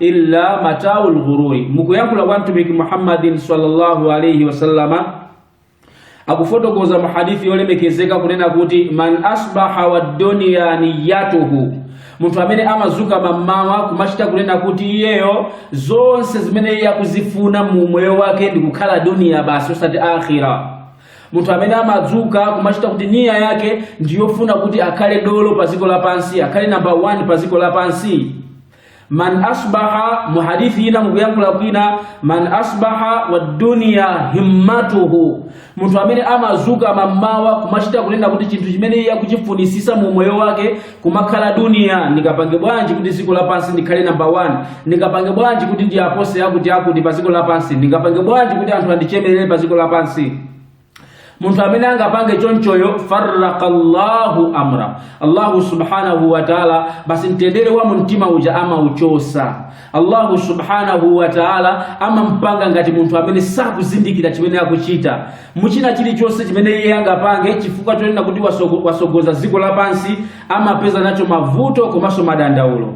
illa mataul ghururi mukuyankhula kwa mtumiki muhammadin sallallahu alaihi wasallama akufotokoza mu hadithi yolemekezeka kunena kuti man asbaha wadduniya niyatuhu munthu amene amazuka mammawa kumachita kunena kuti iyeyo zonse zimene iye akuzifuna mu umoyo wake ndi kukhala duniya basi osati akhira munthu amene amadzuka kumachita kuti niya yake ndiyofuna kuti akhale dolo pa dziko lapansi akhale namba 1 pa dziko lapansi man asbaha mu hadithi ina mukuyankhula kwina man asbaha wa dunya himmatuhu munthu amene amazuka mamawa kumachita kunena kuti chinthu chimene iye akuchifunisisa mu moyo wake kumakhala duniya ndingapange bwanji kuti dziko lapansi ndikhale namba 1 ndingapange bwanji kuti ndiwapose akuti akuti pa dziko lapansi ndingapange bwanji kuti anthu andichemerere pa dziko lapansi munthu amene angapange chonchoyo farraka llahu amra allahu subhanahu wa taala basi mtendere wa mumtima uja amauchosa allahu subhanahu wa taala amampanga ngati munthu amene sakuzindikira chimene akuchita mu china chilichonse chimene iye angapange chifukwa chonena kuti wasogoza dziko lapansi amapeza nacho mavuto komanso madandaulo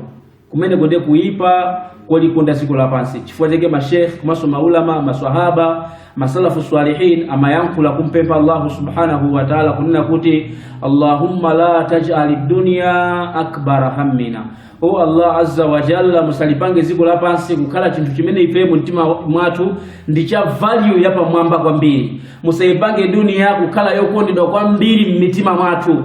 kumeneko ndiye kuipa kolikonda dziko lapansi chifukwa chake mashekh komanso maulama maswahaba masalafu salihin amayankhula kumpempha allahu subhanahu wa taala kunena kuti allahumma la tajali dunya akbara hammina o allah azza wa jalla musalipange dziko lapansi kukhala chinthu chimene ife mu mtima mwathu ndi cha value yapamwamba kwambiri musaipange duniya kukhala yokondedwa kwambiri m'mitima mwathu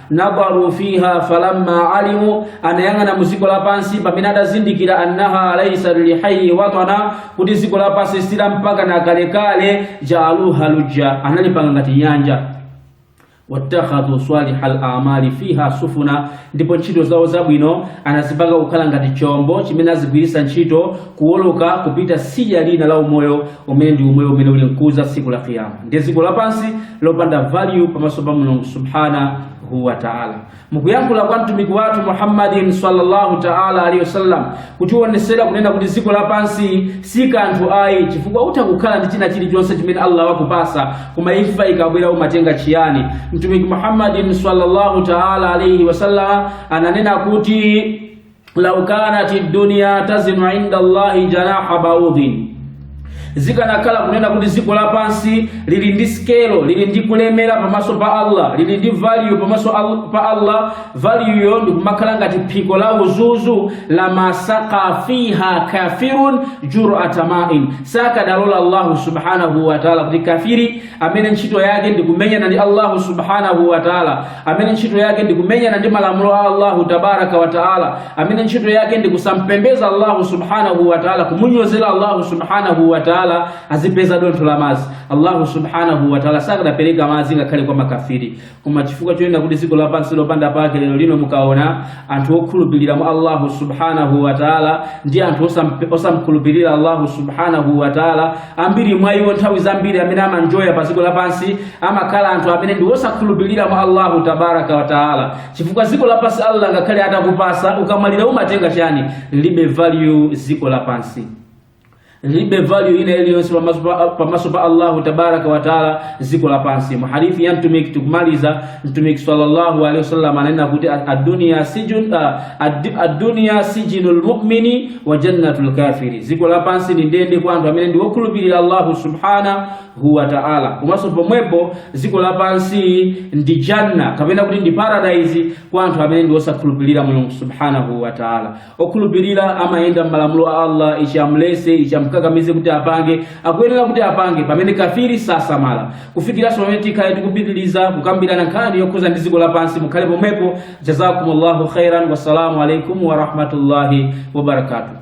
nadharu fiha falamma alimu anayang'ana mu dziko lapansi pamene adazindikira annaha laisa lihayi watana kuti dziko lapansi si la mpaka na kalekale jaaluha lujja analipanga ngati nyanja watakhadhu saliha al-amali fiha sufuna ndipo ntchito zawo zabwino anazipanga kukhala ngati chombo chimene azigwiritsa ntchito kuwoloka kupita tsidya lina la umoyo umene ndi umoyo umene uli nkudza tsiku la kiyama ndi dziko lapansi lopanda value pamaso pa mulungu subhanahu wa taala mukuyankhula kwa mtumiki wathu muhammadin sallallahu taala alaihi wasallam kutiwonesera kunena kuti dziko lapansi si kanthu ayi chifukwa utha kukhala ndi china chilichonse chimene allah wakupatsa koma imfa ikabwera umatenga chiyani mtumiki muhammadin sallallahu taala alaihi wasallam ananena kuti lau kanati dunia tazinu inda llahi janaha baudhin zikanakhala kunena kuti dziko lapansi lili ndi skelo lili ndi kulemera pamaso pa allah lili ndi value pamaso pa allah valueyo ndikumakhala ngati phiko la uzuzu la masaka fiha kafirun jurata main sakadalola allahu subhanahu wataala kuti kafiri amene ntchito yake ndikumenyana ndi allahu subhanahu wataala amene ntchito yake ndi kumenyana ndi malamulo a Allahu tabaraka wa taala, amene ntchito yake ndi kusampembeza Allahu subhanahu wa taala, kumunyozera Allahu subhanahu wa taala, azipeza dontho la mazi. Allahu subhanahu wa taala sakadapereka mazi ngakhale kwa makafiri, koma chifukwa choonena kuti ziko lapansi lopanda pake lero lino mukaona anthu okhulupirira mwa allahu subhanahu wataala ndi anthu osamkhulupirira allahu subhanahu wataala ambiri mwa iwo nthawi zambiri amene amanjoya pa ziko lapansi amakhala anthu amene ndi osakhulupirira mwa allahu tabaraka wataala chifukwa ziko lapansi allah ngakhale atakupasa ukamwalira umatenga chani libe value ziko lapansi libe value ina iliyonse pamaso pa allahu tabaraka wataala ziko lapansi muhadithi ya mtumiki tikumaliza mtumiki sallallahu alaihi wasallam ananena kuti adunia sijinu lmumini wa jannatu lkafiri ziko lapansi ndi ndende kwa anthu amene ndi wokhulupirira allahu subhanahu wa taala komanso pomwepo ziko lapansi ndi janna kapena kuti ndi paradise kwa anthu amene ndi wosakhulupirira mulungu subhanahu wa taala okhulupirira amayenda m'malamulo a allah ichi amulese ichi amkakamize kuti apange akuyenera kuti apange pamene kafiri sasamala kufikiranso pamene tikhale tikupitiriza kukambirana nkhani yokhuza ndi ziko lapansi mukhale pomwepo jazakumullahu khairan wassalamu alaikum warahmatullahi wabarakatuh